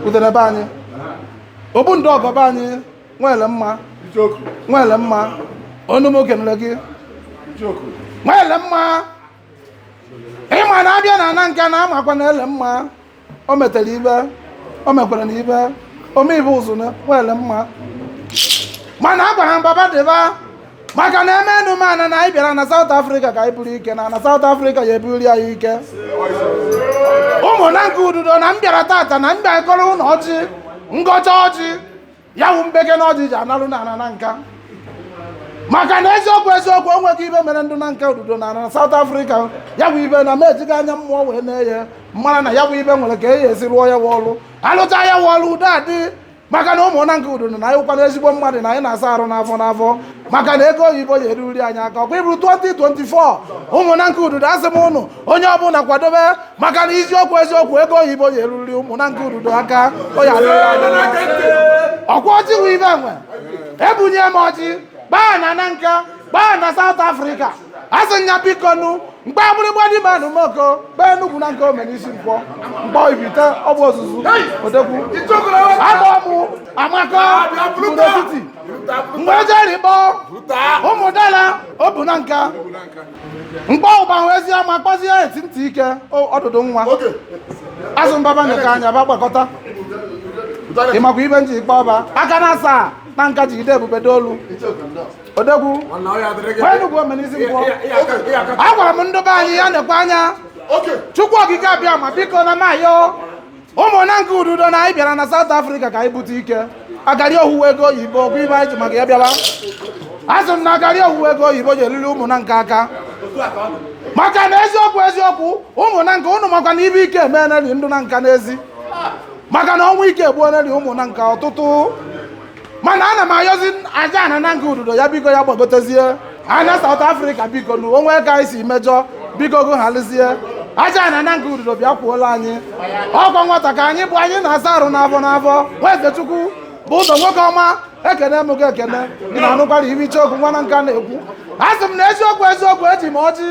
udere be anyị obu ndị ọgọ be anyị nwere mma nwere mma ọnụ m oge nle gị nwere mma ịma na abịa na Nanka na amakwa na ele mma o metere ibe o mekwara na ibe omeibe ụzụ na nwere mma mana a gwara m ba ba dịba maka na eme enu mana na anyị bịara na South Africa ka anyị buru ike na na South Africa ya ebuli anyị ike ụmụ Nanka Ududo na m bịara tata na m bịa gọọrọ ụnụ ọjị m gọcha ọjị ya wụ mbeke na ọjị ji analụ na ana Nanka maka na eziokwu eziokwu onweghị ibe mere ndị Nanka Ududo na na South Africa ya bụ ibe na m ejighị anya mmụọ wee nee ya mara na ya bụ ibe nwere ka e esi rụọ ya wụ ọrụ alụcha ya wụ ọrụ udo adị maka na ụmụ Nanka Ududo na anyị kwana ezigbo mmadụ na anyị na-asa arụ n'afọ n'afọ maka na ego oyibo ya eruri anyị aka ọkwa ịbụrụ 2024 ụmụ Nanka Ududo asị m ụnụ onye ọbụla kwadobe maka na eziokwu eziokwu ego oyibo ya eruri ụmụ Nanka Ududo aka ọkwa ọjị wụ ibe enwe ebunye m ọjị gbaa na Nanka gbaa na South Africa asị m ya biko nụ m kpọ Agbiligba dị ma anụ moko kpọ Enugwu Nanka ome n'isi nkwọ m kpọ Ibite ogbu ọzụzụ odekwu agba ọmụ Amako mkpụrụ etiti mgbe ejeri kpọ Ụmụdala obu Nanka m kpọ Ụbahụ ezi ama kpọzie Eti ntị ike ọdụdụ nwa asị m ba ba nekwa anya ba gbakọta ịmakwa ibe m ji kpọ ba aka na asaa Nanka jide ebube dolu odogwu gwa m ndị be anyị ya nekwa anya Chukwu Okike Abịama biko ana m ayọ ụmụ Nanka Ududo na anyị bịara na South Africa ka anyị bute ike agari owuwe ego oyibo bụ ibe anyị ji maka ya bịaba asị m na agari owuwe ego oyibo ji eruri ụmụ Nanka aka maka na eziokwu eziokwu ụmụ Nanka ụnụ makwa na ibe ike emeeneli ndị Nanka n'ezi maka na ọnwụ ike egbuoneli ụmụ Nanka ọtụtụ mana ana m ayọzi aja ana Nanka Ududo ya biko ya gbagotezie ana South Africa biko nu onwe ka anyị si mejọ biko gụ halizie aja ana Nanka Ududo bịa kwuola anyị ọkwa nwata ka anyị bụ anyị na-asa arụ n'afọ n'afọ Nweze Chukwubụzọ nwoke ọma ekene m gị ekene ị na-anụkwara ibe Ichie okwu nwa Nanka na-ekwu asị m na eziokwu eziokwu eji m ọjị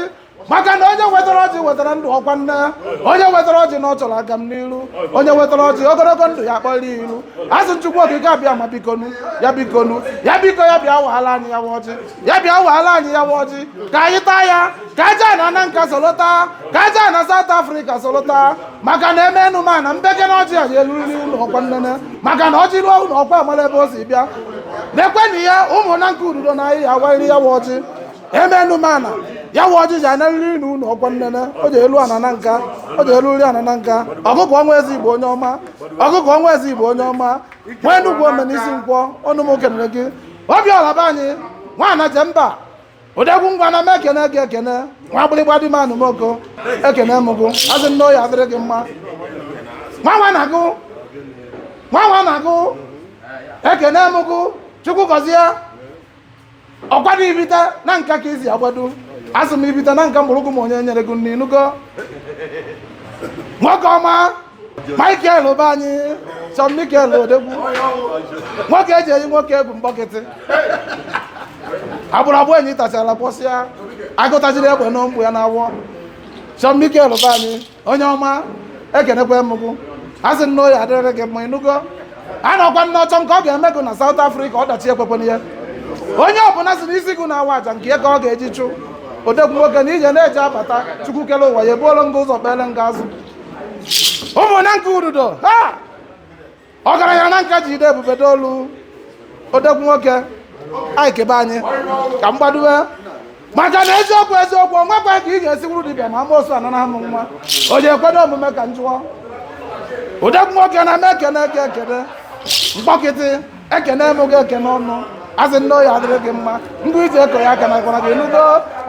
maka na onye wetara ọjị wetara ndụ ọkwa nna onye wetara ọjị na ọ chọrọ agamniru onye wetara ọjị ogologo ndụ ya kpọrọ iru asị m Chukwu Okike Abịama bikonu ya bikonu ya biko ya bịa waala anyị ya ọjị ya bịa waala anyị ya ọjị ka anyị taa ya ka aja ana Nanka solota ka aja ana South Africa solota maka na eme enu ma na mbeke na ọjị ya eluriri ụlọ ọkwa nnene maka na ọjị ruo ụlọ ọkwa amara ebe o si bịa na-ekwe na ya ụmụ Nanka Ududo na anyị ya awarịrị ya ọjị emenụ m ana ya wụ ọjịji anarịrị na unu ọkwa nnene o ji elu ana na nka o ji elu uri ana na nka ọkụkọ ọnwa eze igbo onye ọma ọkụkọ ọnwa eze igbo onye ọma nwa Enugu ome n'isi nkwọ ọnụ m kenere gị Obiọra be anyị nwaana je mba odogwu ngwa na m ekene gị ekene nwa gbịrịgba dị m anụmoko ekene m gụ asị nne oyi adịrị gị mma nwanwa na gụ nwanwa na gụ ekene m gụ chukwu gọzie ọkwa na ibite na nka ka isi agbado asị m ibite na nka mgbọrọgwụ m onye nyere gị nne ịnụgo nwoke ọma michael be anyị sir michael odogwu nwoke eji eyi nwoke egwu mkpọkịtị agbụrụ abụọ enyi tachara kpọsịa agụ tajiri egbe n'ụmụ ya na-awọ sir michael be anyị onye ọma ekenekwa m gụ a sị nne oyi adịrị gị mma ịnụgo a nọkwa nna ọchọ nke ọ ga-eme gụ na South Africa ọdachi ekwekwana ya onye ọbụla si n'isi gụ na-awa aja nke ya ka ọ ga-eji chụ odogwu nwoke na ije na-eje abata chukwu kele ụwa ya ebuolo nga ụzọ kpele nga azụ ụmụnne nke ududo ha ọgaranya na nka ji ide ebube dolu odogwu nwoke Iyke be anyị ka m gbadowe maka na eziokwu eziokwu onwekwa ka ị ga-esi wuru dibịa ma amoosu anọ na amụ nwa o ji ekwedo omume ka m jụọ odogwu nwoke na m ekene gị ekene mkpọkịtị ekene m gị ekene ọnụ asị nne oyi adịrị gị mma ndị iji eko ya aka na gwara gị ịnụgo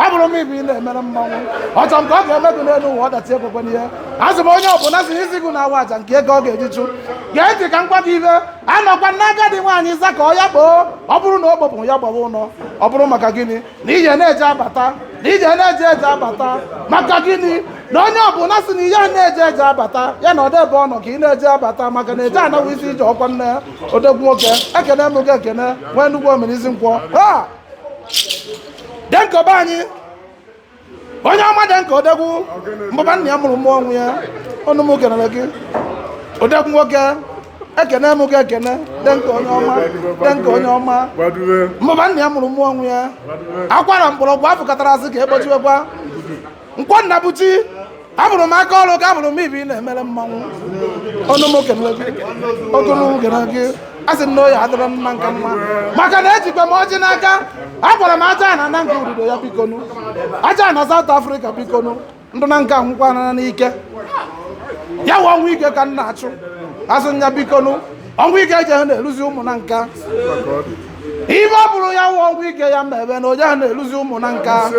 abụrụ m ibe ị na-emere mmanwụ ọchọ nke ọ ga-eme gị n'elu ụwa ọdachi ekwekwana ya asị m onye ọbụla si n'isi gị na-awa aja nke ya ka ọ ga-eji chụ gee ntị ka m gwa gị ihe anọkwa nna agadi nwaanyị ịza ka ọ ya kpoo ọ bụrụ na o gbopụ ya gbawa ụlọ ọ bụrụ maka gịnị na ije na-eje abata na ije na-eje eje abata maka gịnị na onye ọbụla sị na ihe a na-eje eje abata ya nọdebe ụnọ ka ị na-eje abata maka na eje ana wụ isi ije ọkwa nne odogwu nwoke ekene m gị ekene nwa Enugu ome n'isi nkwọ ha denka be anyị onye ọma denka odogwu mbụba nna ya mụrụ mmụọ ọnwụ ya ọnụ m kenere gị odogwu nwoke ekene m gị ekene denka onye ọma denka onye ọma mbụba nna ya mụrụ mmụọ ọnwụ ya akwara mgbọrọgwụ afọ katara asị ka ekpochiwekwa nkwọ Nnabuchi abụrụ m aka ọrụ ka abụrụ m ibi na-emere mmanwụ ọnụ m kenere gị ogologo gara gị a sị nne oyi adịrị m mma nke mma maka na ejikwa m ọjị n'aka agwara m ajana na nke ududo ya bikonu ajana South Africa bikonu ndị na nke anwụkwana n'ike ya wụ ọnwụ ike ka m na-achụ asị m ya bikonu ọnwụ ike eje ha na-eluzi ụmụ Nanka ibe ọ bụrụ ya wụ ọnwụ ike ya mebe na oje ha na-eluzi ụmụ Nanka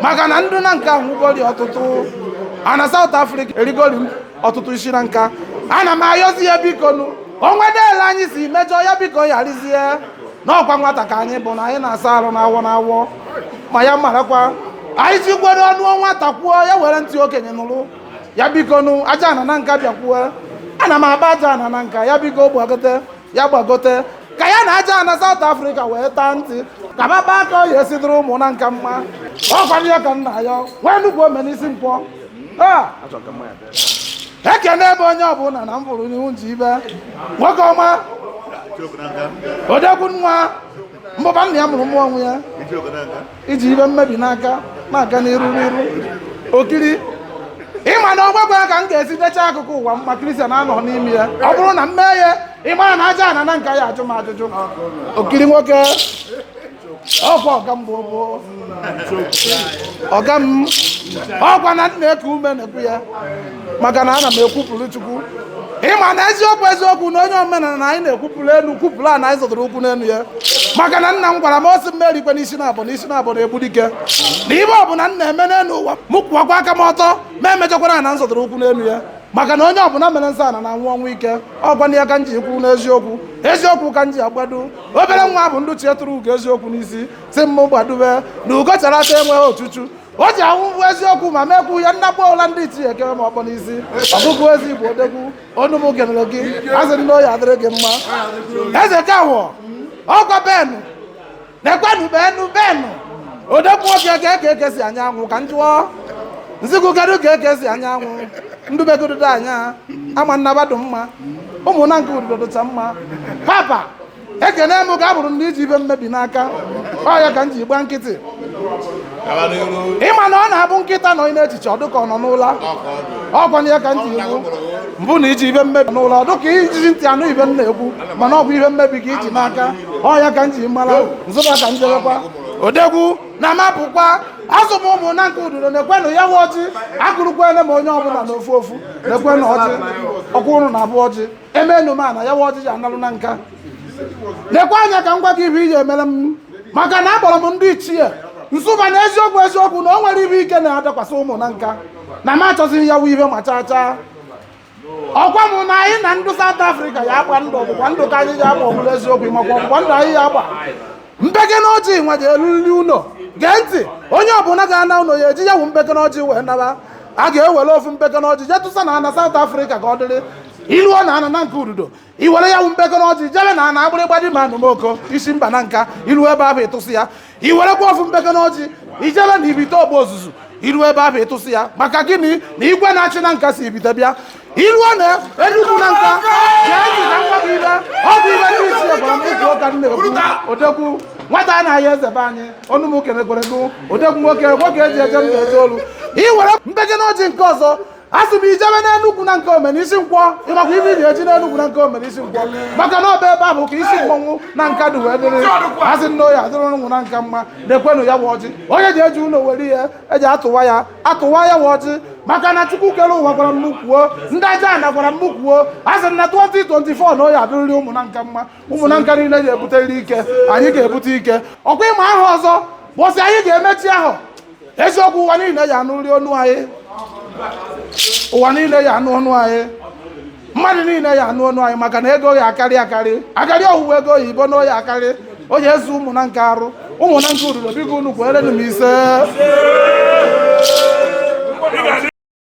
maka na ndị Nanka nwụgori ọtụtụ ana South Africa erigori ọtụtụ isi Nanka ana m ayọzi ya biko nụ onwe deele anyị si mejọ ya biko yarizie n'ọkwa nwata ka anyị bụ na anyị na-asa arụ n'awọ n'awọ ma ya marakwa anyị jikwere ọnụ nwata kwuo ya were ntị okenye nụrụ ya biko nụ aja ana Nanka bịakwuwe ana m agba aja ana Nanka ya biko gbagote ya gbagote ka ya na aja ana South Africa wee taa ntị ka baba aka ọ ya-esi dụrụ ụmụ Nanka mma ọkwa na ya ka m na-ayọ wee nnukwu omenisi mkpọ ah! ekene ebe onye ọbụla na m fụrụ n'ihu nji ibe nwoke ọma odegwu nwa mbọba nna ya mụrụ mmụọ ọnwụ ya iji ibe mmebi n'aka na-aga n'iru n'iru okiri ịma na ọgwagwa ka m ga-esi decha akụkụ ụwa mma kristian anọ n'ime ya ọ bụrụ na m mee ya ịma na aja ana Nanka ya-ajụ m ajụjụ okiri nwoke ọkwa ọga m bụ ọga m ọkwa na m na-eku ume na-ekwu ya maka na ana m ekwupụrụ chukwu ịma na eziokwu eziokwu na onye omenala na anyị na-ekwupụrụ elu kwupụrụ ana anyị zọtara ụkwụ n'elu ya maka na nna m gwara m o si mmeri kwe n'isi na abụ n'isi na abụ na-egbu dike na ihe ọbụla m na-eme n'elu ụwa m kwụwakwa aka m ọtọ ma emechakwara ana m zọtara ụkwụ n'elu ya maka na onye ọbụla mere nsọ ana na-anwụ ọnwụ ike ọkwa na ya ka m ji kwuru n'eziokwu eziokwu ka m ji agbado obere nwa bụ ndị ichie tụrụ ugo eziokwu n'isi si m gbadobe na ugo chara acha enweghị ochuchu o ji anwụ bụ eziokwu ma m ekwuo ya nnakpọ ọla ndị ichie ekere m ọkpọ n'isi ọbụbụ ezi igbo odegwu ọnụ m kenere gị asị m na ọ ya-adịrị gị mma eze kawọ ọkwa benu na-ekwenu benu benu odegwu nwoke ka eke eke si anya anwụ ka m jụọ m sị gụ kedu ka eke si anya anwụ ndụ be gụ dodo anya ama na ba dụ mma ụmụ Nanka ududo dụcha mma papa ekene m ga-abụrụ ndị iji ihe mmebi n'aka ọ ya ka m ji gba nkịtị ịma na ọ na-abụ nkịta nọ n'echiche ọ dịka ọ nọ n'ụla ọkwa na ya ka m ji ekwu mbụ na iji ihe mmebi n'ụla ọ dịka ijighị ntị anụ ihe m na-ekwu mana ọ bụ ihe mmebi ka iji n'aka ọ ya ka m ji mara m sị ba ka m jebekwa odegwu na mapụkwa asị m ụmụ Nanka ududo na-ekwenụ ya nwe ọjị agụrụkwene m onye ọbụla na ofu ofu na-ekwenụ ọjị ọkwụrụ na abụ ọjị emenụ m ana ya wa ọjị ji analụ Nanka lekwa anya ka m gwa gị ihe iji emere m maka na akpọrọ m ndị ichie m sị ba na eziokwu eziokwu na o nwere ihe ike na-adakwasị ụmụ Nanka na m achọzighị ya wụ ihe ma chaa chaa ọkwa m na anyị na ndụ South Africa ya-agba ndụ ọgbụgba ndụ ka anyị ji agba ọbụla eziokwu makwa ọgbụgba ndụ anyị ya-agba mpekele ọjị nwa ga-eruriri ụlọ gee ntị onye ọbụla ga-ana ụlọ ya eji ya wụ mpekele ọjị wee naba a ga-ewere ofu mpekele ọjị jee tụsa na ana South Africa ka ọ dịrị i luo na ana Nanka ududo i were ya wụ mpekele ọjị jebe na ana agbịrịgba dị ma anụmoko isi mba Nanka i luo ebe ahụ ị tụsị ya i werekwa ofu mpekele ọjị i jebe na ibite ogbe ozuzu i ruo ebe ahụ ị tụsị ya maka gịnị na igwe na-achị Nanka si ibite bịa i ruo na Enugwu Nanka gee ntị ka m gwa gụ ibe ọ bụ ibe ndị ichie gwara m izu ụka na-ekwu odogwu nwata a na-ahịa eze be anyị ọnụ m kenekwere gụ odogwu nwoke nwoke e ji eje mba eje olu i were mpekele ọjị nke ọzọ asị m i jebe n'Enugwu Nanka omena isi nkwọ ị makwa ibe i ji eje n'Enugwu Nanka omena isi nkwọ maka na ọ bụ ebe ahụ ka isi mmọnwụ Nanka dị wee dịrị asị m na ọ ya adịrị ụmụ Nanka mma na-ekwenụ ya bụ ọjị onye ji eji ụlọ were ihe e ji atụwa ya atụwa ya wụ ọjị maka na chukwu kere ụwa gwara m kwuo ndị aja ana gwara m kwuo a sị na 2024 na ọ ya adịrịrị ụmụ Nanka mma ụmụ Nanka niile ga-ebuterịrị ike anyị ga-ebute ike ọkwa ị ma ahọ ọzọ bụsị anyị ga-emechi ahụ eziokwu ụwa niile ya anụrị ọnụ anyị ụwa niile ya anụ ọnụ anyị mmadụ niile ya anụ ọnụ anyị maka na ego ya akarị akarị akarị ọ wụwa ego oyibo na ọ ya akarị ọ ya ezu ụmụ Nanka arụ ụmụ Nanka ududo biko unu kwerenụ m ise